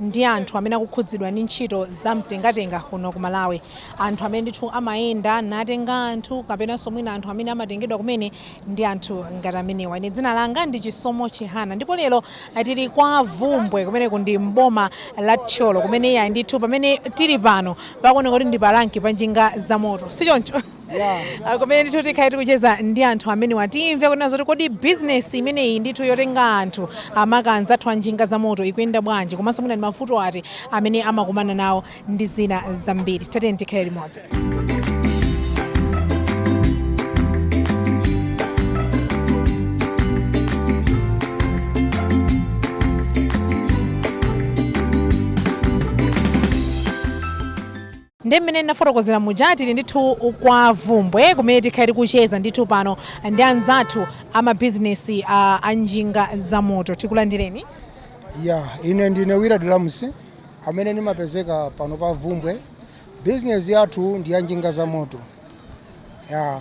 ndi anthu amene akukhudzidwa ndi ntchito za mtengatenga kuno ku Malawi. Anthu amene ndithu amayenda natenga anthu kapenanso mwina anthu amene amatengedwa kumene ndi anthu ngati amenewa. Ine dzina langa ndi Chisomo Chihana ndipo lero tili kwa Bvumbwe kumeneku ndi m'boma la Thyolo kumene iyayi ndithu pamene tili pano pakuoneka kuti ndi pa ranki pa njinga zamoto, si choncho? Ah, kumene ndithu tikhale tikucheza ndi anthu amenewa timve kunena zoti kodi bizinesi imeneyi ndithu yotenga anthu makamaka anzathu a njinga za moto ikuyenda bwanji komanso mwina ndi mavuto ati amene amakumana nawo ndi zina zambiri tatiyeni tikhale limodzi Nde mmene ndinafotokozera muja tili ndithu kwa Bvumbwe kumene tikhale tikucheza ndithu pano ndi anzathu a mabizinesi a, a njinga za moto. Tikulandireni. ya ine ndine Willard Lamusi amene ndimapezeka pano pa Bvumbwe. Bizinesi yathu ndi ya njinga za moto ya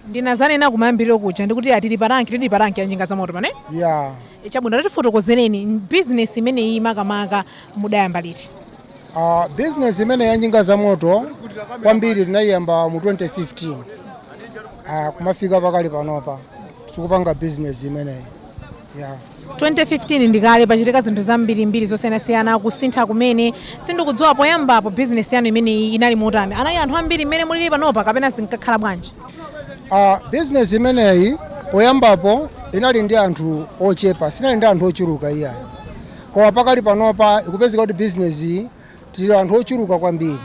ndinadzanena kumayambiriro kuja ndikuti tili pa ranki tili pa ranki ya njinga za moto pano eh? ya E, chabwino tatifotokozereni m- bizinesi imeneyi makamaka mudayamba liti uh, business imene ya njinga za moto kwambiri tinayiyamba mu 2015 uh, kumafika pakali panopa tikupanga business imeneyi 2015 ndikale pachitika zinthu zambirimbiri zosiyanasiyana kusintha kumene sindikudziwa poyambapo bizinesi yanu imeneyi inali motani anali anthu ambiri mmene mulili panopa kapena zinkakhala bwanji Uh, business imeneyi poyambapo inali ndi anthu ochepa sinali ndi anthu ochuluka iyayi koma pakali panopa ikupezeka kuti business iyi tili anthu ochuluka kwambiri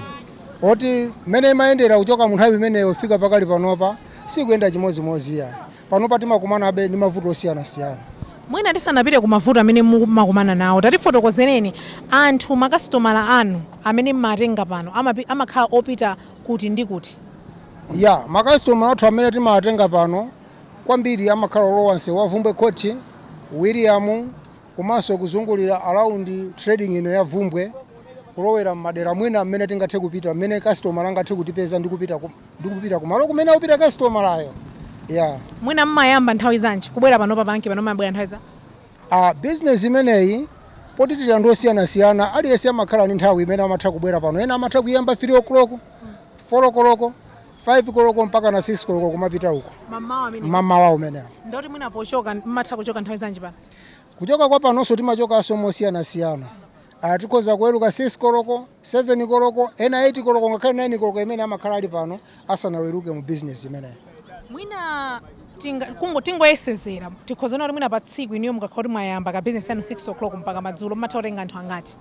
oti mmene imayendera kuchoka mu nthawi imeneyo kufika pakali panopa sikuyenda chimodzimodzi iyayi Panopa timakumanabe ndi mavuto osiyanasiyana. Mwina tisanapite ku mavuto amene mumakumana nawo, tatifotokozereni anthu, makasitomala anu amene m'matenga pano amakhala opita kuti ndi kuti? Yeah, makasitomala athu amene timawatenga pano kwambiri amakhala olowa msewu wa Bvumbwe Court, Wiliyamu komanso kuzungulira around trading ino ya Bvumbwe, kulowera m'madera mwina m'mene tingathe kupita, m'mene kasitomala angathe kutipeza ndi kupita ndikupita kumalo kumene akupita kasitomalayo ya mwina mmayamba nthawi zanji kubwera pano pa ranki pano mmabwera nthawi za a bizinesi imeneyi poti tili anthu osiyanasiyana aliyense amakhala ndi nthawi imene amatha kubwera pano ena amatha kuyamba 3 o'clock 4 o'clock 5 koloko mpaka na 6 koloko kumapita uko mamawa umene mamawa umenewo ndeti mwina pochoka mmatha kuchoka nthawi zanji pano kuchoka kwa panonso timachokanso mosiyanasiyana Tikhoza kuweruka 6 koloko, 7 koloko, ena 8 koloko ngakhale 9 koloko imene amakhala ali pano asanaweruke mu bizinezi imeneyo. Mwina tinga- kungo- tingoyesezera tikhoza kuona kuti mwina pa tsiku inuyo mukakhala kuti mwayamba ka bizinesi yanu 6 o'clock mpaka madzulo mumatha kutenga anthu angati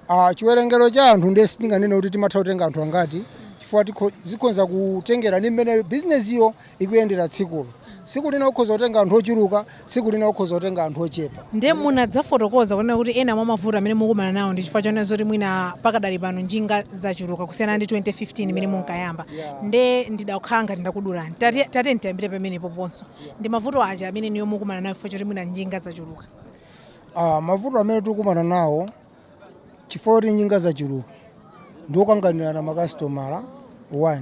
Ah, chiwerengero cha anthu ndiye sitinganene kuti timatha kutenga anthu angati chifukwa tikho- zikhoza kutengera ndi mmene bizinesiyo ikuyendera tsikulo tsiku lina ukhoza kutenga anthu ochuluka tsiku lina ukhoza kutenga anthu ochepa nde munadzafotokoza kunena kuti ena mwa mavuto amene mukumana nawo ndi chifukwa chonena zoti mwina pakadali pano njinga zachuluka kusiyana ndi 2015 imene munkayamba Yeah. nde ndidakhala ngati ndakudulani Tati- tati ndiyambire pamenepo ponso ndi mavuto aja amene inuyo mukumana nawo chifukwa choti mwina njinga zachuluka Ah, mavuto amene tikukumana nawo Chifukwa choti njinga zachuluka ndi kukanganirana makasitomala 1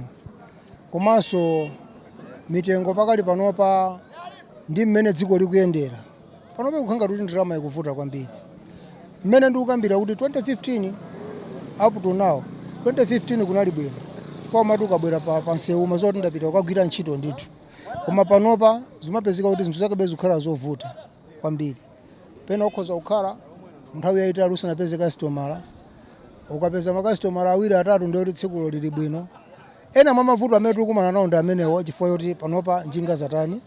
komanso mitengo pakali panopa ndi mmene dziko likuyendera panopa ikukhala ngati kuti ndalama ikuvuta kwambiri. Mmene ndikukambira kuti 2015 up to now, 2015 kunali bwino chifukwa umati ukabwera pa, pa msewu umadziwa kuti ndapita kukagwira ntchito ndithu, koma panopa zimapezeka kuti zinthu zakebe zikukhala zovuta. kwambiri pena ukhoza kukhala nthawi yayitali usanapeze kasitomala ukapeza makasitomala awiri atatu ndiye kuti tsikulo lili bwino ena mwa mavuto amene tikukumana nawo ndi amenewo chifukwa choti panopa njinga zatani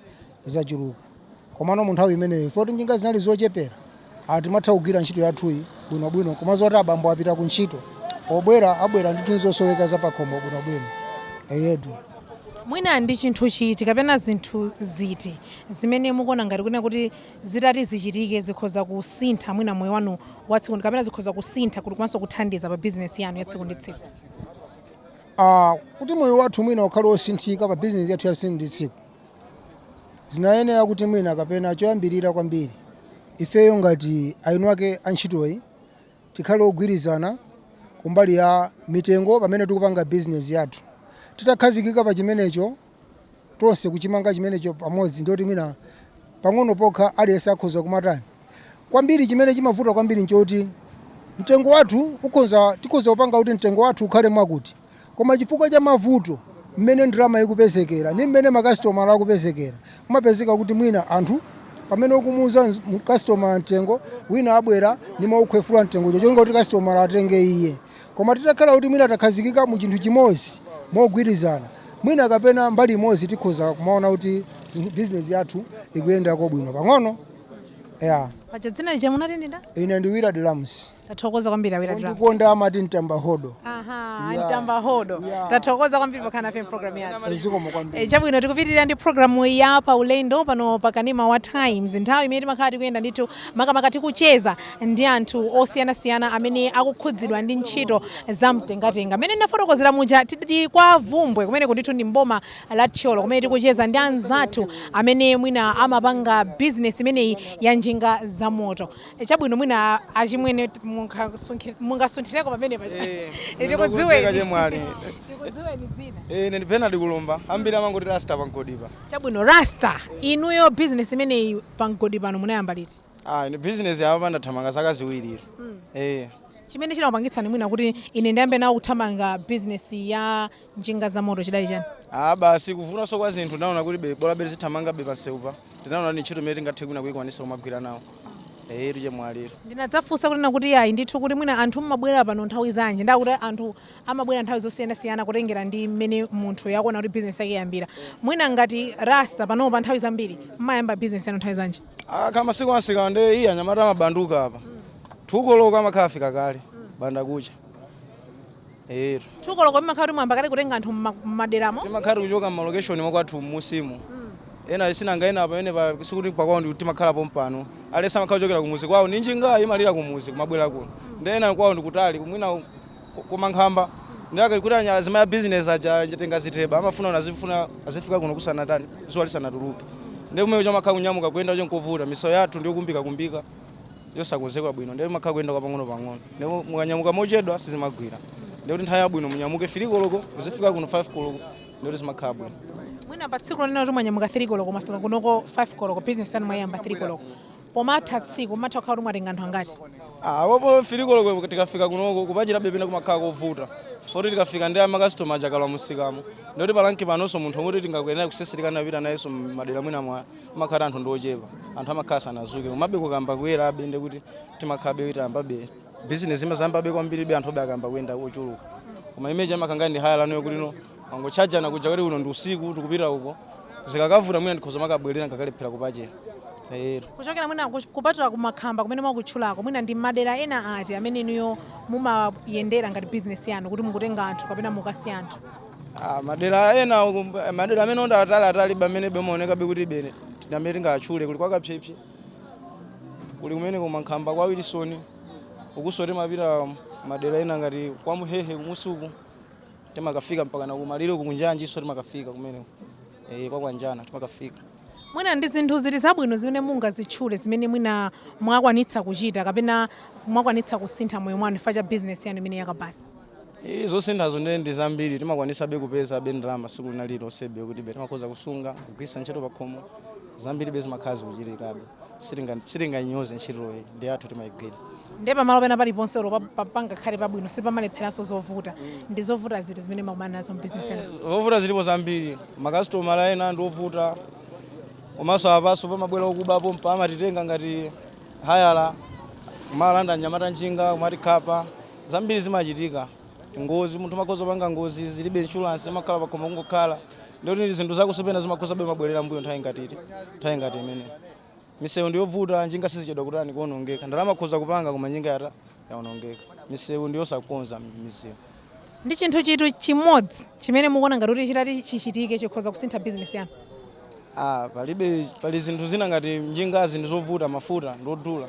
zachuluka komano mu nthawi imeneyo chifukwa kuti njinga zinali zochepera ah, timatha kugwira ntchito yathuyi bwinobwino kumadziwa zoti abambo apita ku ntchito pobwera abwera ndi tinthu zosoweka zapakhomo bwinobwino eyetu mwina ndi chinthu chiti kapena zinthu ziti zimene mukuona ngati kunena kuti zitati zichitike zikhoza kusintha mwina moyo wanu wa tsiku ndi- kapena zikhoza kusintha kuti komanso kuthandiza pa bizinesi yanu ya tsiku ndi tsiku Ah, kuti moyo wathu mwina ukhale wosinthika pa bizinesi yathu ya tsiku ndi tsiku zinayenera kuti mwina kapena choyambirira kwambiri ifeyo ngati eni ake antchitoyi tikhale ogwirizana kumbali ya mitengo pamene tikupanga bizinesi yathu titakhazikika pa chimenecho tonse kuchimanga chimenecho pamodzi ndiye kuti mwina pang'ono pokha aliyense akhoza kumatani kwambiri chimene chimavuta kwambiri nchoti mtengo wathu ukhoza tikhoza kupanga kuti mtengo wathu ukhale mwakuti koma chifukwa cha mavuto mmene ndalama ikupezekera ndi mmene makasitomala akupezekera kumapezeka kuti mwina anthu pamene ukumuuza nz- mu- customer mtengo wina abwera nimaukhwefula mtengo cholinga kuti customer atenge iye Koma titakhala kuti mwina takhazikika mu chinthu chimodzi mogwirizana, mwina kapena mbali imodzi tikhoza kumaona kuti zinthu business yathu ikuyendako bwino pang'ono. Yeah. Paja dzina lija munati ndi ndani? Ine ndi Willard Lams. Tathokoza kwambiri a Willard Lams. Ondikonda amati mtamba hodo. Aha, Yes. mtamba hodo. Yeah. Tathokoza kwambiri pokhala nafe programu yathu. Zikomo kwambiri. E, chabwino tikupitirira ndi programu ya pa ulendo pano pakanema wa times nthawi imene timakhala tikuyenda ndithu makamaka tikucheza ndi anthu osiyanasiyana amene akukhudzidwa ndi ntchito za mtengatenga. Mmene ndinafotokozera muja, tili kwa Vumbwe kumeneko ndithu ndi m'boma la Thyolo kumene tikucheza ndi anzathu amene mwina amapanga bizinesi imeneyi ya njinga zamoto. E, Chabwino, mwina achimwene t- mungasunthi- mungasunthireko pamenepa Eh, ndikudziweni ndikudziweni. chemwali. Tikudziweni dzina. Eh, ine ndi Bernard Kulumba, ambiri amangoti rasta pamgodipa. Chabwino, Rasta, inuyo bizinesi imeneyi pa mgodi pano munayamba liti? Ah, ine business ya apa ndathamanga zaka ziwiri. Eh. chimene chinakupangitsani mwina kuti ine ndiyambe nawo kuthamanga bizinesi ya njinga za moto chidali chani Ah, basi kuvutanso kwa zinthu ndinaona kuti be bola bere ndizithamangabe pansewu pa. Ndinaona ni ntchito imene tingathe mwina kuyikwanisa kumagwira nawo. Eh, etu chemwali. ndinadzafunsa kuti tinakuti ayi ndithu kuti mwina anthu mmabwera pano nthawi zanji ndakuti anthu amabwera nthawi zosiyanasiyana kutengera ndi mmene munthu akuona kuti business yake yayambira mwina ngati rasta panopa nthawi zambiri mmayamba business yanu nthawi zanji akakhala masiku amsika nde iya anyamata amabanduka apa 2 koloko amakhala afika kale mbandakucha etu 2 koloko mmakhala kuti mwayamba kale kutenga anthu mma- mmaderamo timakhala tikuchoka mmalokeshoni mwakwathu mmusimu ena sinanga ena apa ene pa- sikuti pakwawo kuti amakhala pompano alesa amakhala kuchokera kumuzi kwawo ndi njinga imalira kumuzi kumabwera kuno ndi ena kwawo ndikutali kumwina Kumankhamba ndiyake kuti anya azimayi a business aja atenge ziteba amafuna kuti azifuna azifika kuno kusanatani zuwa lisanatuluke ndiye kumene timakha kunyamuka kuyenda cho nkovuta misewu yathu ndiyo kumbika kumbika yosakonzekwa bwino ndiye timakha kuyenda kwa pang'ono pang'ono ndiye mukanyamuka mochedwa sizimagwira ndiye kuti nthawi yabwino munyamuke 3 koloko muzifika kuno 5 koloko ndiye kuti zimakhala bwino mwina pa tsiku lonena kuti mwanyamuka 3 koloko mwafika kunoko 5 koloko business yanu mwayamba 3 koloko Pomatha tsiku, mumatha kukhala kuti mwatenga anthu angati? Ah, apopo 3 koloko tikafika kunoko kupachirabe, pena kumakhala kovuta foti tikafika ndi makasitomala aja akalowa mumsikamo ndikuti pa rank panonso munthu woti tingakuyenera kutsetsereka kupita nayenso madera mwinamwake amakhala anthu ndiochepa anthu amakhala sanazuke komabe kukayamba kuyerabe ndikuti timakhabe titayambabe bizinesi imazayambabe kwambiribe anthu obe akayamba kuyenda ochuluka koma imeji amakangani ndi haya lanu yokulino timangotchajana kuja kuti uno ndi usiku tikupita uko zikakavuta mwina ndikhoza kumakabwerera nkakalephera kupachera ero kuchokera mwina kuch- kupatula kumankhamba kumene mwakutchulako mwina ndi madera ena ati amene inuyo mumayendera ngati bizinesi yanu kuti mukutenga anthu kapena mukasiya anthu Ah, madera ena uku- madera amene ali atali atali amene amaonekabe kuti ndi amene tingachule kuli kwakapsepse kuli kumene kumankhamba kwa wilson ukuso timapita madera ena ngati kwa muhehe kumusuku timakafika mpaka kumalire uku kunjanjinso timakafika kumeneko eh, kwa kwanjana timakafika mwina ndi zinthu zili zabwino zimene mungazitchule zimene mwina mwakwanitsa kuchita kapena mwakwanitsa kusintha moyo mwanu chifukwa cha bizinesi yanu imene yakabaza Eh, zosinthazo ndi ndi zambiri timakwanisabe kupezabe ndalama tsiku lina lililonsebe kuti be timakhoza kusunga kugwiritsa ntchito pakhomo zambiri be zimakhala zikuchitikabe Sitinga- sitinganyoze ntchitoyi ndi athu timayigwira ndiye pamalo pena paliponse olo pa- pa- pangakhale pabwino sipamalepheranso zovuta ndi zovuta ziti zimene makumana nazo mbizinesi yanu zovuta zilipo zambiri makasitomala ena ndi ovuta komanso apaso pamabwera okubapo mpa amatitenga ngati hayala kumalanda anyamata njinga kumatikhapa zambiri zimachitika ngozi munthu amakhoza panga ngozi zilibe inshuransi amakhala pakhomo kungokhala nde ndi zinthu zakenso pena zimakhoza be kumabwerera mmbuyo nthawi ngati iti nthawi ngati imene misewu ndiyovuta njinga sizichedwa kutani kuonongeka ndalama akhoza kupanga koma njinga yatha yaonongeka misewu ndiyosakonza misewu ndi chinthu chiti chimodzi chimene mukuona ngati kuti chitati chachitika chikhoza kusintha bizinesi yanu Ah, palibe pali zinthu zina ngati njingazi ndi zovuta mafuta ndodula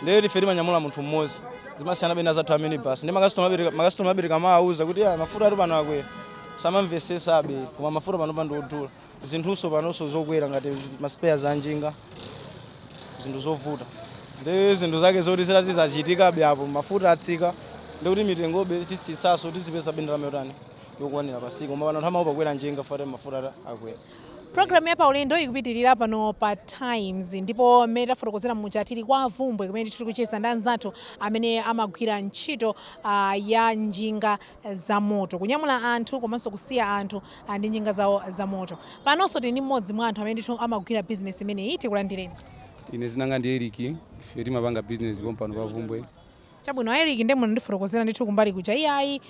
ndiye ife timanyamula munthu mmodzi zimasiyanabe ndi azathu a minibus ndi makasitomala ambiri kamawauza kuti "Ah, mafutatu pano akwera samamvesesabe koma mafuta panopa ndi odula zinthunso panonso zokwera ngati maspeya a njinga zinthu zovuta ndi zinthu zake zoti zitati zachitikabe apo mafuta atsika ndikuti mitengobe titsitsaso tizipeza be ndalama yotani yokwanira pasiku koma pano anthu amaopa kukwera njinga chifukwa mafuta akwera Program ya paulendo ikupitilira pano pa Times ndipo mmene tafotokozera muja tili kwa Vumbwe kumene ndithu tikucheza ndi anzathu amene amagwira ntchito ah, ya njinga za moto kunyamula anthu komanso kusiya anthu ah, ndi njinga zawo za moto. Panonso tili ndi mmodzi mwa anthu amene ndithu amagwira business imeneyi tikulandireni. Ine dzina langa ndi Eric, ife timapanga business pompano pa Vumbwe. Chabwino, a Eric nde munandifotokozera ndithu kumbali kuja. Iyayi,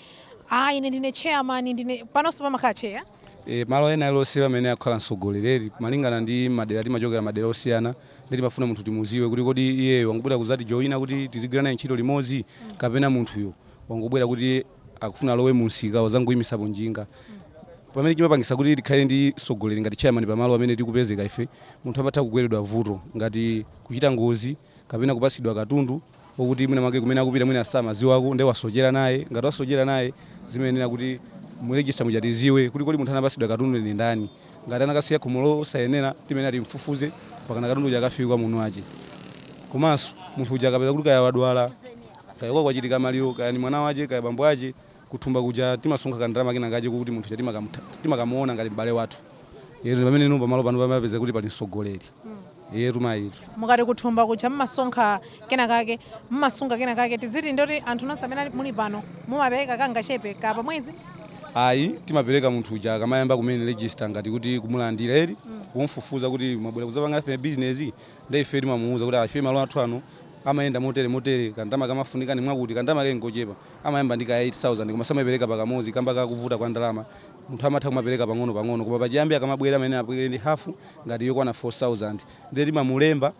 ine ndine chairman, ndine. Panonso pamakhala chair? E, malo ena alionse pamene akukhala mtsogoleri, malingana ndi madera timachokera madera osiyana, nde timafuna munthu timuziwe kuti kodi iyeyo wangobwera kuzatijoina kuti tizigwira naye ntchito limodzi kapena munthuyo wangobwera kuti akufuna alowe mumsika wazangoimisapo njinga. Chimene chimapangisa kuti tikhale ndi mtsogoleri ngati chairman pamalo pamene tikupezeka ife, munthu amatha kugweredwa vuto ngati kuchita ngozi kapena kupatsidwa katundu, okuti mwina mwake kumene akupita mwina samaziwako nde wasochera naye ngati wasochera naye timayenera kuti mu register muja tiziwe kuti kodi munthu anapasidwa katundu ndi ndani ngati anakasiya khomo losayenera timayenera timfufuze mpakana katundu uja akafike kwa mwini wache komanso munthu uja akapeza kuti kaya wadwala kaya kwa kwachitika maliro kaya ni mwana wache kaya bambo ache kuthumba kuja timasonkha ka ndalama kena kache kokuti munthu uja timakamutha timakamuona ngati m'bale wathu eyetu ndipamene inu pamalo pano pamapeza kuti pali mtsogoleri eyetu mayitu mukati kuthumba kuja mmasonkha kena kake mmasunga kena kake tiziti ndoti anthu nonse amene ali- muli pano mumapereka kangachepe ka pamwezi ayi timapereka munthu uja akamayamba kumene register ngati kuti kumulandira ndi kumfufuza kuti mwabwera kuzapanga nafe business nde ife timamuuza kuti ife malo athu ano amayenda motere motere kandalama kamafunika ndi mwakuti kandalama kangochepa amayamba ndi ka 8000 koma samaipereka pakamodzi kamba ka kuvuta kwa ndalama munthu amatha kumapereka pang'ono pang'ono koma pachiyambi akamabwera amayenera abwere ndi hafu ngati yokwana 4000 ndiye timamulemba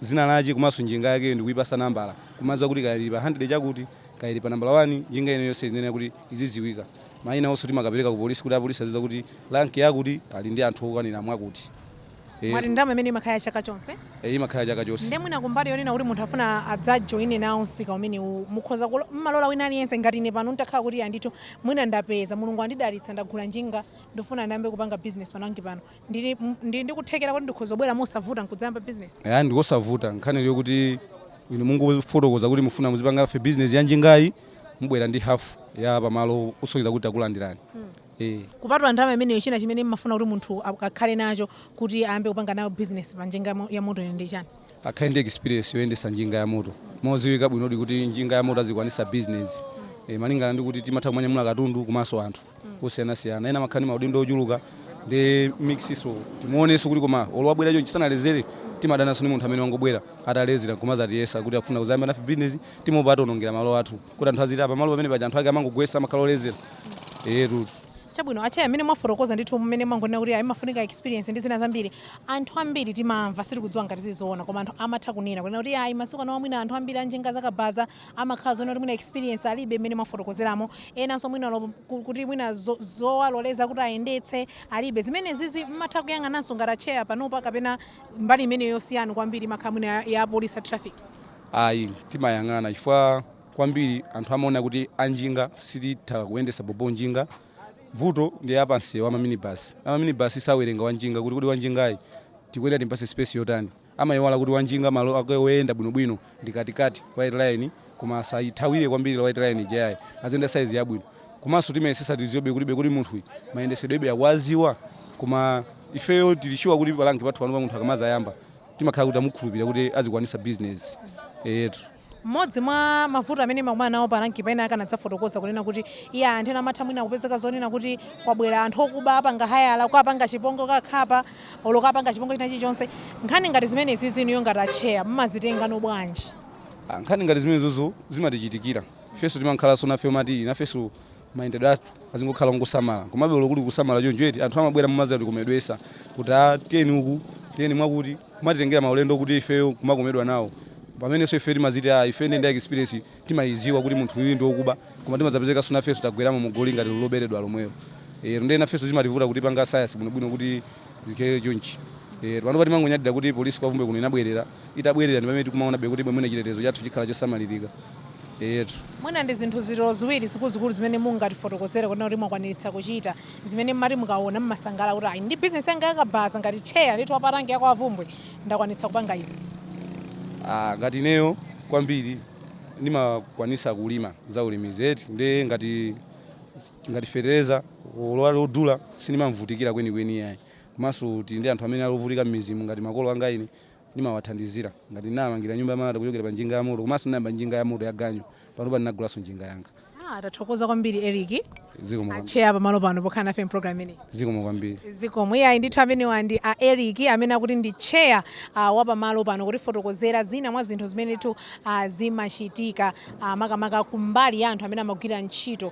dzina lache komanso njinga yakeyo ndikuipasa nambala kumadziwa kuti kaya ili pa 100 chakuti kaya ili pa nambala 1 njinga ina iliyonse iyenera kuti izidziwika maina onso timakapereka ku polisi kuti apolisi azidziwa kuti rank yakuti ali ndi anthu okwanira mwakuti. Eh, mwati ndalama imene imakhala ya chaka chonse eh, imakhala chaka chonse nde mwina kumbali yonena kuti munthu afuna adzajoine nawo msika umenewu mukhoza kulo- mmalola wina aliyense ngati ine pano nditakhala kuti andithu mwina ndapeza mulungu andidalitsa ndagula njinga ndifuna ndiyambe kupanga business pa rank pano ndili m- ndili ndikuthekera kuti ndikhoza kubwera mosavuta nkudzayamba business aya ndikosavuta nkhani ndi yoti inu mungofotokoza kuti mufuna muzipanga nafe business ya njingayi mubwera ndi hafu ya pamalo kusonyeza kuti takulandirani Eh. Kupatula ndalama imeneyo china chimene mmafuna kuti munthu akhale nacho kuti ayambe kupanga nayo business pa njinga yamo- yamotoyo ndi chani? akhale ndi experience yoyendesa njinga yamoto moziwika bwinodi kuti njinga yamoto azikwanisa business e, malingana ndi kuti timatha kumanyamula katundu komanso anthu osiyanasiyana ena amakhala ndi maudindo ochuluka ndiye mix so timuoneso kuti koma olo wabwera chonchi sanalezere timadananso ndi munthu amene wangobwera atalezera kumazatiyesa kuti akufuna kuzayamba nafe business timaopa ationongera malo athu kuti anthu aziti a pamalo pamene paja anthu ake amangogwesa amakhala olezera etu chabwino atcheya mmene mwafotokoza ndithu mmene mwangonena kuti amafunika experience ndi zina zambiri anthu ambiri timamva sitikudziwa ngati ndi zoona koma anthu amatha kunena kunena kuti ayi masiku ano mwina anthu ambiri anjinga zakabaza amakhala zonena kuti mwina experience alibe mmene mwafotokozeramo enanso mwina lo- ku- kuti mwina zo- zowaloleza kuti ayendetse alibe zimenezizi mmatha kuyang'ananso ngati atcheya panopa kapena mbali imeneyo yosiyana kwambiri imakhala mwina ya- ya police a traffic Ayi, timayang'ana chifukwa kwambiri anthu amaona kuti anjinga sititha kuyendesa bhobho njinga. Vuto ndi a pansewu a maminibasi. A maminibasi sawerenga wanjinga kuti kodi wanjingayi tikuyenera timpase space yotani. Amaiwala kuti wanjinga malo ake oyenda bwinobwino ndi katikati, white line, koma asaithawire kwambiri white line ija yayi. Aziyenda size yabwino. Komanso timayesesa tiziwebe kuti be kodi munthuyi mayendesedwebe akuwaziwa? Koma ifeyo tili sure kuti paranki pathu panopa munthu akamazayamba. timakhala kuti tamukhulupirira kuti azikwanitsa business etu mmodzi mwa mavuto amene mmakumana nawo pa ranki paena akanadza afotokoza kunena kuti iye anthu ena amatha mwina kupezeka zonena kuti kwabwera anthu okuba apanga hayala kuwapanga chipongo kuwakhapa olo kuwapanga chipongo china chilichonse nkhani ngati zimenezizi inuyo ngati atcheya mmazitengano bwanji Ah, nkhani ngati zimenezozo zimatichitikira ifenso timakhalanso nafe timati nafenso mayendedwe athu azingokhala ongosamala komabe olo kuli kusamala choncho eti anthu amabwera kumazatikomedwesa kuti a ah, tiyeni uku tiyeni mwakuti kumatitengera maulendo kuti ifeyo kumakomedwa nawo pamenenso ife timaziti a ah, ife ndi experience timayiziwa kuti munthu uyu ndi wokuba koma timadzapezeka so nafeso tagweramo mu goli ngati loberedwa lomwelo eh, ndiye nafeso zimativuta kuti tipange sayansi bwinobwino kuti zikhale chonchi eeh, panopa timangonyadira kuti police kwa Bvumbwe kuno inabwerera, itabwerera ndi pamene tikumaonabe kuti mwina chitetezo chathu chikhala chosamalirika eyetu. Mwina ndi zinthu ziti olo ziwiri zikuluzikulu zimene mungatifotokozere kunena kuti mwakwaniritsa kuchita, zimene mmati mukaona mmasangalala kuti ayi ndi business yanga ya kabaza ngati chair ndithu wa pa rank ya kwa Bvumbwe ndakwanitsa kupanga izi? Aah ngati ineyo kwambiri ndimakwanitsa kulima za ulimizi eti, nde ngati. ngati fetereza olo ali odula sindimavutikira kwenikweni iyayi komanso tili ndi anthu amene ali ovutika m'midzimu ngati makolo anga ine ndimawathandizira ngati ndinawamangira nyumba yamalata kuchokera pa njinga yamoto komanso ndinayamba njinga yamoto yaganyu panopa ndinagulanso njinga yanga. Ah, tathokoza kwambiri Eric zikomo kwambiri. acheya pamalo pano pokhala nafe mpulogalamu ineyi zikomo kwambiri. zikomo iyayi ndithu amenewa ndi a eric amene akuti ndi cheya uh, wapamalo pano kutifotokozera zina mwa zinthu zimene ndithu uh, zimachitika uh, makamaka kumbali ya anthu amene amagwira ntchito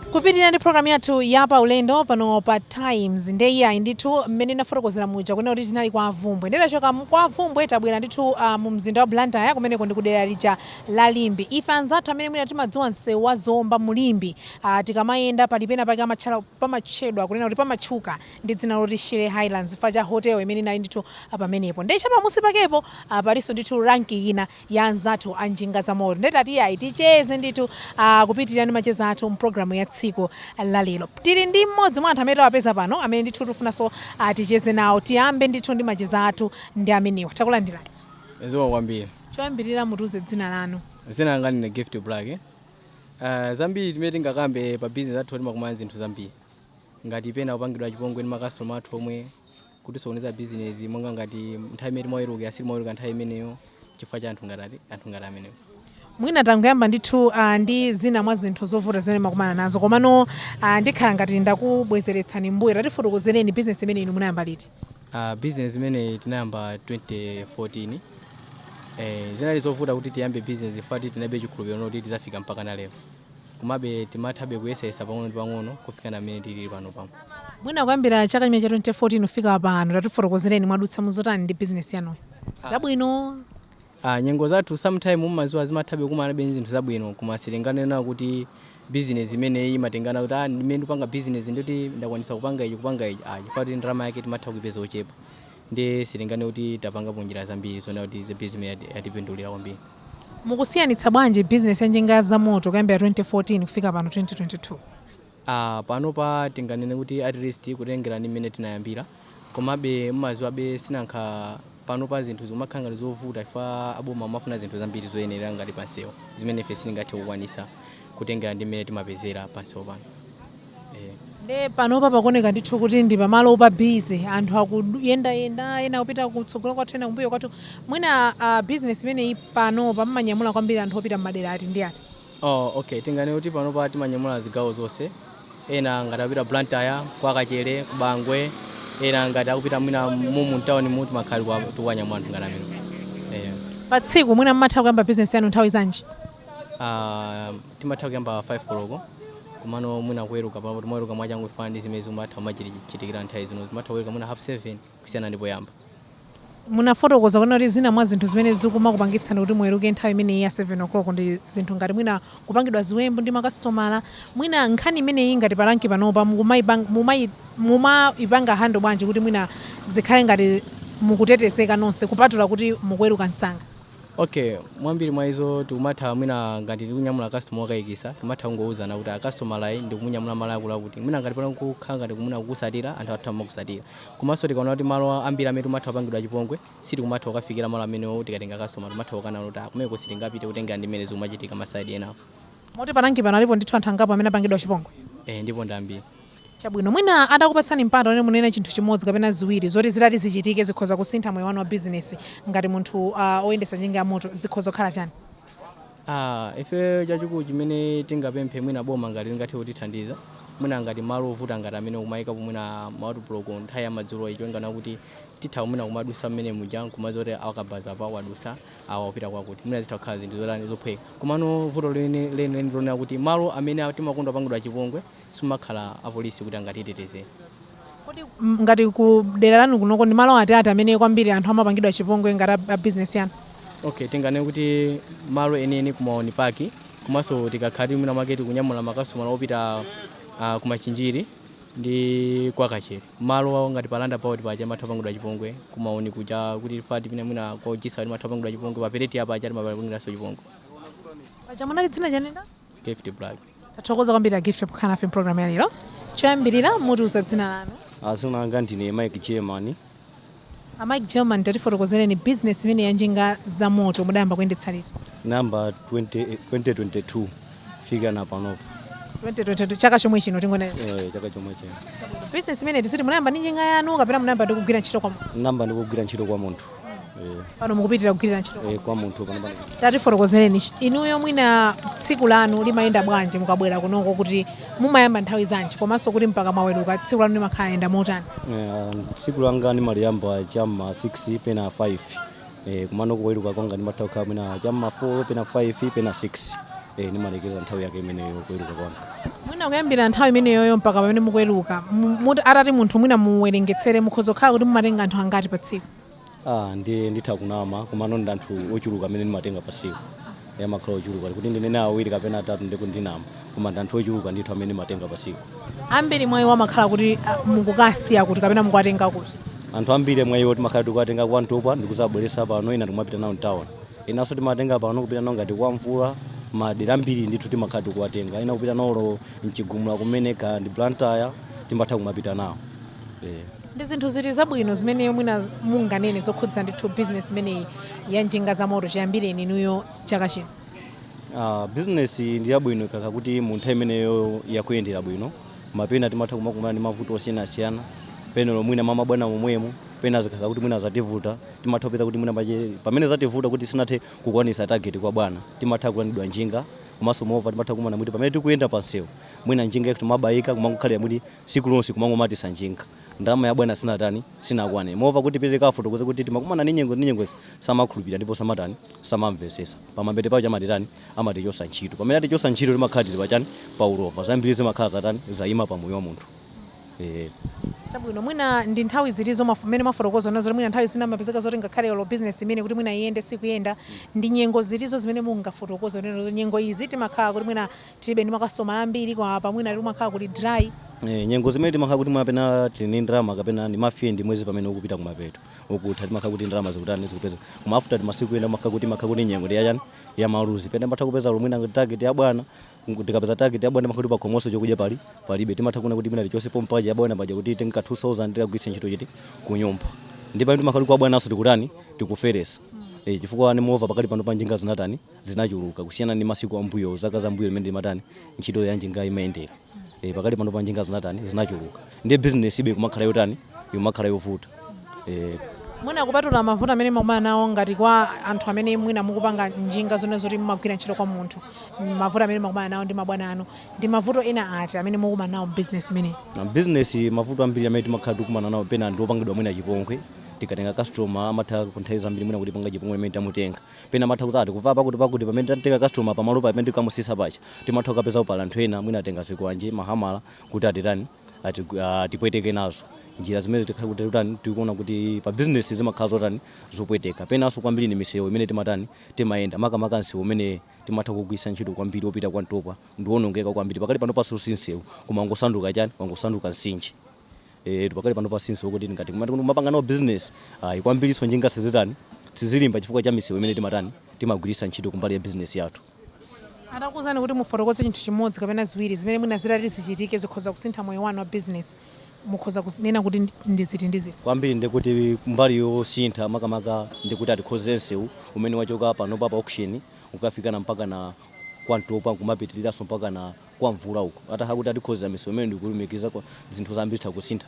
Kupitilira ndi program yathu ya paulendo pano pa Times nde iyayi ndithu mmene ndinafotokozera muja kunena kuti tinali kwa Vumbwe nde tachoka kwa Vumbwe tabwera ndithu mu mzinda wa Blantyre kumeneko ndi kudera lija la Limbe. Ife anzathu amene mwina timadziwa msewu wa Zomba mu Limbe tikamayenda pali pena pake amatchara pamatchedwa kunena kuti pamatchuka ndi dzina loti Shire Highlands chifukwa cha hotel imene inali ndithu pamenepo nde chapamunsi pakepo palinso ndithu rank ina ya anzathu a njinga za moto nde tati iyayi ticheze ndithu ah, kupitirira ndi macheza athu mpulogalamu ya tsiku la lero tili ndi mmodzi mwa anthu amene tawapeza pano amene ndithu tifunanso ah, ticheze nawo tiyambe ndithu ndi macheza athu ndi amenewa takulandirani zikomo kwambiri choyambirira mutiuze dzina lanu dzina langa ndine gift black uh, zambiri zimene tingakambe pa business athu timakumana zinthu zambiri ngati pena kupangidwa chipongwe ndi makastoma athu omwe kutisokoneza bizinesi monga ngati nthawi imene timaweruka sitimaweruka nthawi imeneyo chifukwa cha anthu ngati ati- anthu ngati amenewo mwina tangoyamba ndithu ah, ndi zina mwa zinthu zovuta zimene mmakumana nazo komano ah, ndikhala ngati ndakubwezeretsani mbuyo tatifotokozereni bizinesi imene inu munayamba liti Uh, business imene tinayamba 2014 eh, zinali zovuta kuti tiyambe business ifati tinalibe chikhulupiriro kuti tizafika mpaka na lero komabe timathabe kuyesayesa pang'ono ndi pang'ono kufika na mmene tilili panopa pano. Mwina kuyambira chaka chimene cha 2014 kufika pano, tatifotokozereni mwadutsa muzotani ndi bizinesi yanuyi, ah. zabwino Ah, nyengo zathu sometime mumaziwa zimathabe kukumanabe ndi zinthu zabwino koma sitinganene kuti business imeneyi imathandiza kuti ah, ndimene ndipanga business ndoti ndakwanisa kupanga ichi kupanga ichi ah, chifukwa choti ndalama yake timatha kuipeza yochepa nde sitinganene kuti tapangapo njira zambiri zoona kuti the business yati- yatipindulira kwambiri Mukusiyanitsa bwanji business ya njinga za moto kuyambira 2014 kufika pano 2022? Ah, panopa tinganene kuti at least kutengera ndi mmene tinayambira komabe mumaziwabe sinankha panopa zinthu zikumakhala ngati zovuta chifukwa aboma amafuna zinthu zambiri zoyenera ngati pansewu zimene ife sitingathe kukwanisa kutengera ndi mmene timapezera pansewu pano Nde panopa pakuoneka ndithu kuti ndi pamalo opa busy, anthu akuyendayenda, ena akupita kutsogolo kwathu, ena kumbuyo kwathu. Mwina business imeneyi panopa mumanyamula kwambiri anthu opita m'madera ati ndi ati? Oh, okay. Tinganene kuti panopa timanyamula zigawo zonse. Ena ngati akupita Blantyre, kwa Kachere, ku Bangwe, ena ngati akupita mwina mumu mtaunimu timakhala tikuwa- tikuwanyamula anthu ngati amenewo. Eh. Pa tsiku mwina mumatha kuyamba business yanu nthawi zanji? Ah, timatha kuyamba 5 koloko komano mwina kuweruka pano timaweruka mwachangu kufanana ndi zimene zimatha kumachitikira nthawi zino timatha kuweruka mwina half 7 kusiyana ndi poyamba munafotokoza kunena kuti zina mwa zinthu zimene zikumakupangitsani kuti muweruke nthawi imeneyi ya 7 o'clock ndi zinthu ngati mwina kupangidwa ziwembu ndi makasitomala mwina nkhani imeneyi ngati palanki panopa mukumaipang- mumai- mumaipanga handle bwanji kuti mwina zikhale ngati mukutetezeka nonse kupatula kuti mukuweruka msanga Okay, mwambiri mwa izo tikumatha mwina ngati tikunyamula customer okayikisa timatha kungouzana kuti kastomala uyu ndikumunyamula malo akutiakuti mwina ngati pano kukhala ngati kumwina kukutsatira anthu atha kumakutsatira komanso tikaona kuti malo ambiri amene timatha kupangidwa chipongwe sitikumatha kukafikira malo amenewo tikatenga customer timatha kukana kuti kumeneko sitingapite kutengera ndi mmene zikumachitika maside enawo moti palanki pano alipo ndithu anthu angapo amene apangidwa chipongwe eh, ndipo ndambiri Chabwino, mwina atakupatsani mpata woti munene chinthu chimodzi kapena ziwiri zoti zitati zichitike zikhoza kusintha moyo wanu wa bizinesi ngati munthu uh, oyendetsa njinga ya moto zikhoza kukhala chani? Ah, ife chachikulu chimene tingapemphe mwina boma ngati lingathe kutithandiza mwina ngati malo ovuta ngati amene kumayika kumwina ma roadblock nthawi ya madzulo cholinga chonena kuti titha kumwina kumadusa mmene muja nkumadziwa kuti wakabaza apa wadutsa wapita kwakuti mwina zitha kukhala zinthu zotani zophweka komano vuto leni leni lonena kuti malo amene timakonda kupangidwa chipongwe simumakhala apolisi kuti angatitetezere. Kodi ngati ku dera lanu kunoko ndi malo ati ati amene kwambiri anthu amapangidwa chipongwe ngati a bizinesi yanu? Okay, tinganene kuti malo enieni ku Maoni Park komanso tikakhala tili mwina mwake tikunyamula makasitomala opita uh, ku Machinjiri ndi kwa Kachere. Malo awo ngati pa roundabout paja timatha kupangidwa chipongwe ku Maoni kuja kuti fati pina mwina kwa Ujisa timatha kupangidwa chipongwe pa pereti apa aja timapangidwanso chipongwe. Paja munati dzina chani? Gift Black. tathokoza kwambiri a gift pokhala nafe mpulogalamu ya lero choyambirira mutiuza dzina lanu Ah dzina langa ndine Mike German. a mike german tatifotokozereni business imene ya njinga za moto mudayamba kuyendetsa liti Ndayamba 20, 2022 kufikana panopo. 2022 chaka chomwe chino tingonena Eh, chaka chomwe chino. business imene ndiye kuti munayamba ndi njinga yanu kapena munayamba ndi kugwira ntchito kwa munthu Ndayamba ndikugwira ntchito kwa munthu. Eh, pano mukupitiriza kugwirira ntchito eh, kwa munthu pano pano tatifotokozereni ch- inuyo mwina tsiku lanu limayenda bwanji mukabwera kunoko kuti mumayamba nthawi zanji komanso kuti mpaka mwaweruka tsiku lanu limakhala layenda motani Eh, tsiku langa ndimaliyamba chamma 6 pena 5 eh, komano kuweruka kwanga ndimatha kukhala mwina chamma 4 pena 5 pena 6 eh, ndimalekeza nthawi yake imeneyo kuweruka kwanga Mwina kuyambira nthawi imeneyoyo mpaka pamene mukuweruka, mu- muti- atati munthu mwina muwerengetsere mukhoza kukhala kuti mumatenga anthu angati pa tsiku? Ah, ndi nditha kunama komano ndi anthu ochuluka amene ndimatenga pa tsiku amakhala ochuluka kuti ndinene awiri kapena atatu ndikunama koma ndi anthu ochuluka ndithu amene ndimatenga pa tsiku Ambiri mwa iwo amakhala kuti ah, mukukasiya kuti kapena mukuwatenga kuti. anthu ambiri mwa iwo timakhala tikuwatenga kwa mtopa ndikuzabweretsa pano ena tikumapita nawo mtawuni enaso timatenga pano kupita nao ngati kwa mvula madera ambiri ndithu timakhala tikuwatenga ena kupita nao olo mchigumula kumene kaya ndi blantyre timatha kumapita nao Eh. ndi zinthu ziti zabwino zimene mwina munganene zokhudza ndithu bizinesi imeneyi ya njinga za moto chiyambireni inuyo chaka chino Ah, business ndi yabwino ikakhala kuti munthawi imeneyo yakuyendera bwino mapena timatha kumakumana ndi mavuto osiyanasiyana pena olo mwina mabwana momwemo pena zikakhala kuti mwina zativuta Timatha kupeza kuti mwina pache pamene zativuta kuti sinathe kukwanisa target kwa bwana, timatha kulandidwa njinga komanso moreover timatha kukumana kuti pamene tikuyenda pa msewu mwina njinga yathu timabayika kumangokhalira kuti siku lonse kumangomatisa njinga ndalama ya bwana sinatani sinakwane moreover kuti tipite tikawafotokoze kuti takumana ndi nyengo ndi nyengo izi samakhulupirira ndipo samatani samamvesesa pamapeto pache amatitani amatichosa ntchito pamene atichosa ntchito timakhala tili pachani pa ulova zambiri zimakhala zatani zayima pa moyo wa munthu. Eh. Chabwino, mwina ndi nthawi ziti zomwe mmene mwafotokoza kunena kuti mwina nthawi zina mapezeka zoti ngakhale olo business imene kuti mwina iyende sikuyenda ndi nyengo zitizo zimene mungafotokoze kunena kuti nyengo izi timakhala kuti mwina tilibe ndi makasitomala ambiri kapena mwina timakhala kuli dry Eh, nyengo zimene timakhala kuti mwapeza tili ndi ndalama kapena ndi mafie ndi mwezi pamene ukupita kumapeto ukutha timakhala kuti ndalama zikutani zikupezeka koma after timasiku ena makhala kuti makhala kuti nyengo ndi yachani ya maluzi pena matha kupeza olo mwina target ya bwana tikapeza target ya bwana amakhala kuti pakhomoso chokudya pali palibe timatha kuona kuti mwina tichose pompaja ya bwana paja kuti titengeko 2000 tikagwiritse ntchito chani kunyumba ndi pamene timakhala kuti kwa bwanaso tikutani tikupereweza Eh, chifukwa ndi moreover pakati pano pa njinga zinatani zinachuluka kusiyana ndi masiku ambuyo zaka za mbuyo mmene imatani ntchito ya njinga imayendera Eh, pakati pano pa njinga zinatani zinachuluka ndiye business ija ikumakhala yotani ikumakhala yovuta eh, mwina kupatula mavuto amene mukumana nawo ngati kwa anthu amene mwina mukupanga njinga zonena zoti mumagwira ntchito kwa munthu mavuto amene mukumana nawo ndi mabwana anu ndi mavuto ena ati amene mukumana nawo business imeneyi na business mavuto ambiri amene timakhala tikumana nawo pena ndi opangidwa mwina chipongwe tikatenga customer amatha nthawi zambiri mwina kutipanga chipongwe pamene tamutenga pena amatha kuti atikuba pakuti pakuti pamene tatenga customer pamalo pamene tikamusisa paja timatha kukapeza kuti pali anthu ena mwina atenga zikwanje mahamala kuti atitani ati- ah, atipweteke nazo ndiye zimene tikhala kuti totani tikuona kuti pa bizinesi zimakhala zotani zopweteka penanso kwambiri ni misewu imene timatani timayenda makamaka msewu umene timatha kugwiritsa ntchito kwambiri wopita kwa mtopa ndiwonongeka kwambiri pakali pano panoso si msewu koma wangosanduka chani wangosanduka mtsinje eh pakali pano panoso si msewu oti ngati kumati kuti kumapanga nawo business ayi kwambirinso njinga sizitani sizilimba chifukwa cha misewu imene timatani timagwiritsa ntchito kumbali ya business yathu Atakuuzani kuti mufotokoze chinthu chimodzi kapena ziwiri zimene mwina zitati zichitike zikhoza kusintha moyo wanu wa business, mukhoza kunena kuti ndi ziti ndi ziti? Kwambiri ndi kuti mbali yosintha makamaka ndi kuti atikonze nsewu umene wachoka panopa pa auction kukafikana mpakana kwa Ntopwa n'kumapitiriraso mpakana kwa mvula uko ataha kuti atikonzera misewu imene ndikulumikiza kwa zinthu zambiri tha kusintha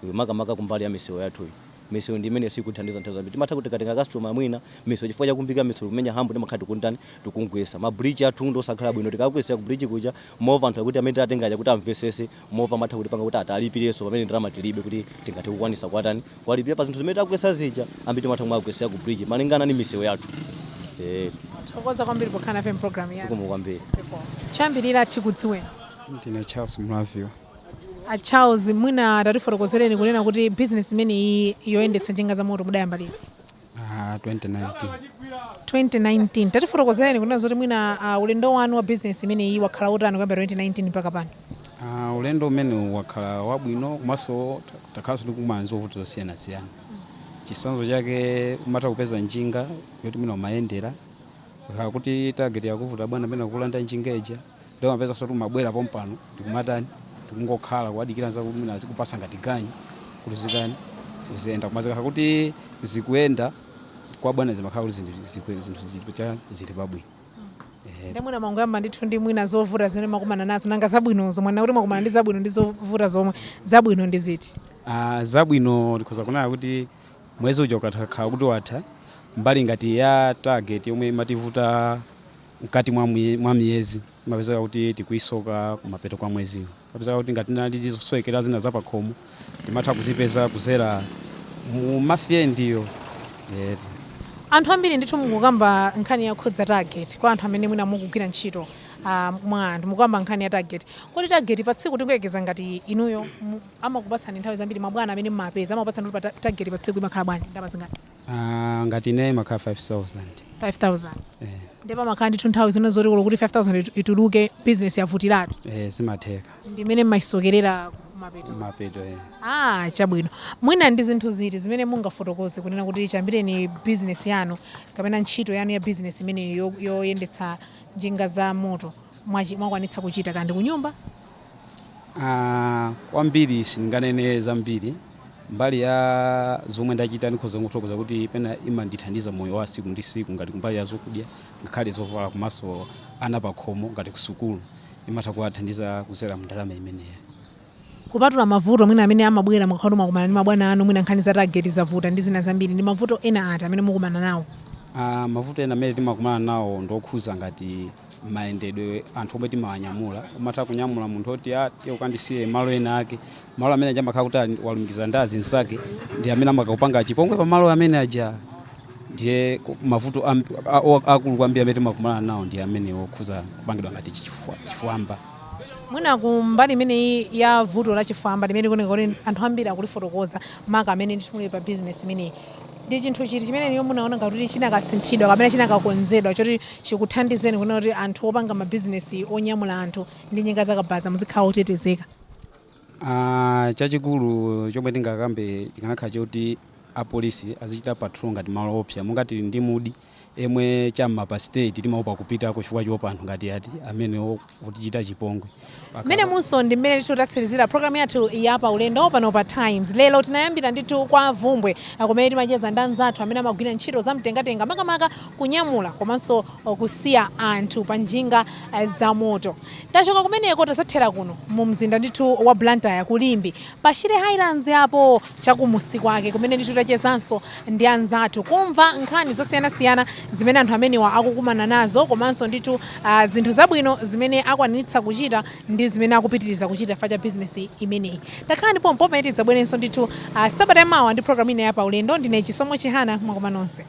iyo makamaka kumbali ya misewu yathu iyi misewu ndi imene sikuthandiza nthawi zambiri timatha kutenga customer mwina misewu chifukwa chakumbika misewu kumenya hambo timakhala tikutani tikugwetsa ma bridge athu ndi osakhala bwino tikakwesera ku bridge kuja mwina anthu akuti amene tatengaja kuti amvesese mwina amatha kutipanga kuti tiwalipirenso pamene ndalama tilibe kuti tingathe kukwanisa kwatani Kuwalipira pa zinthu zimene tagwetsa zija ambiri timatha kumagwetsera ku bridge malingana ndi misewu yathu eh Tikuthokoza kwambiri pokhala nafe mpulogalamu yathu. zikomo kwambiri Choyambirira tikudziweni. ndine charles mlaviwa A Charles mwina tatifotokozereni kunena kuti bizinesi imeneyi yoyendetsa njinga za moto mudayamba liti? Ah, 2019. 2019 tatifotokozereni kunena zoti mwina ah, ulendo wanu wa business imeneyi wakhala utani kuyambira 2019 mpaka pano Ah, ulendo umenewu wakhala wabwino komanso ta- takhalanso tikumana ndi zovuta zosiyanasiyana chisanzo chake umatha kupeza njinga yoti mwina umayendera ukakhala kuti target yakuvuta bwana pena kukulanda njinga ija ndiye umapeza zoti umabwera pompano ndikumatani ndikungokhala kuwadikira anzako kuti mwina azikupasa ngati ganyu kuti zitani ziyende koma zikakhala kuti zikuyenda kwa bwana zimakhala kuti zinthu zikwe- zinthu zili cha- zili pabwino Ehe. nde mwina mwangoyamba ndithu ndi mwina zovuta zimene mwakumana nazo nanga zabwinozo mwanena kuti mwakumana ndi zabwino ndi zovuta zomwe zabwino ndi ziti Ah, zabwino ndikhoza kunena kuti mwezi uja ukakhala kuti watha mbali ngati ya target yomwe imativuta mkati mwa mwa miyezi imapezeka kuti tikuisoka kumapeto kwa mweziwo. Imapezeka kuti ngati tinali ndi zosowekera zina za pakhomo timatha kuzipeza kuzera mu ma Friday-wo. Eh, Anthu ambiri ndithu mukukamba nkhani yokhudza target kwa anthu amene mwina mukugwira ntchito ah, mwa anthu mukukamba nkhani ya target. Kodi target pa tsiku tingoyekeza ngati inuyo mu- amakupatsani nthawi zambiri mabwana amene mumapeza amakupatsani kuti pa ta- target pa tsiku imakhala bwanji ndalama zingati? Aaa ngati ineyo imakhala 5000. 5000 Eeh. nde pamakhala ndithu nthawi zina zoti olo kuti 5000 itu- ituluke business yavutiratu Eeh zimatheka. ndimene mmayisokerera kumapeto Kumapeto eeh. Aaa chabwino mwina ndi zinthu ziti zimene mungafotokoze kunena kuti chiyambireni business yanu kapena ntchito yanu ya business imeneyi yo- yoyendetsa njinga za moto mwachi- mwakwanitsa kuchita kaya ndi kunyumba Ah, kwambiri sindinganene zambiri mbali ya zomwe ndachita ndikhoza kuthokoza kuti penapake imandithandiza moyo wa siku ndi siku ngati kumbali ya zokudya ngakhale zovala komanso ana pakhomo ngati kusukulu imatha kuwathandiza kuzera mndalama imeneyo kupatula mavuto mwina amene amabwera mukakhala kuti mwakumana ndi mabwana anu mwina nkhani za tageti zavuta ndi zina zambiri ndi mavuto ena ati amene mukumana nawo Ah, mavuto ena amene timakumana nawo ndokhuza ngati mayendedwe anthu omwe timawanyamula umatha kunyamula munthu woti tiye ukandisiye malo ena ake malo amene aja amakhala kuti ali- walumikiza ndi azinzake ndi amene amakakupanga chipongwe pa malo amene aja ndiye ku- mavuto amb- a- o- akulu kwambiri amene timakumana nawo ndi amene okhuza kupangidwa ngati chifwa- chifwamba mwina ku mbali imeneyi ya vuto la chifwamba limene likuoneka kuti anthu ambiri akulifotokoza maka amene ndithu muli pa bizinesi imeneyi ndi chinthu chiti chimene inuyo mumaona ngati kuti chinakasinthidwa kapena chinakakonzedwa choti chikuthandizeni kunena kuti anthu opanga mabizinesi onyamula anthu ndi njinga zakabaza muzikhala otetezeka? Chachikulu chomwe tingakambe chikanakhala choti apolisi azichita patrol ngati malo oopsa monga tili ndi Mudi emwe cha m'ma pa stage timaopa kupitako chifukwa choopa anthu ngati amenewo. otichita chipongwe. Mmenemu nso ndi mmene ndithu tatsirizira programu yathu ya paulendo pano pa Times. Lero tinayambira ndithu kwa Bvumbwe ah, kumene timacheza ndi anzathu amene amagwira ntchito za mtengatenga makamaka kunyamula komanso oh, kusiya anthu pa njinga ah, za moto. Tachoka kumeneko tazathera kuno mu mzinda ndithu wa Blantyre ku Limbe Pa Shire Highlands yapo cha kumusi kwake kumene ndithu tachezanso ndi anzathu kumva nkhani zosiyanasiyana zimene anthu amenewa akukumana nazo komanso ndithu ah, zinthu zabwino zimene akwanitsa kuchita ndi zimene akupitiriza kuchita chifukwa cha bizinesi imeneyi. Takhala nanu pompo pamene tidzabwerenso ndithu ah, sabata yamawa ndi programu ina ya Paulendo. Ndine Chisomo Chihana, zikomo nonse.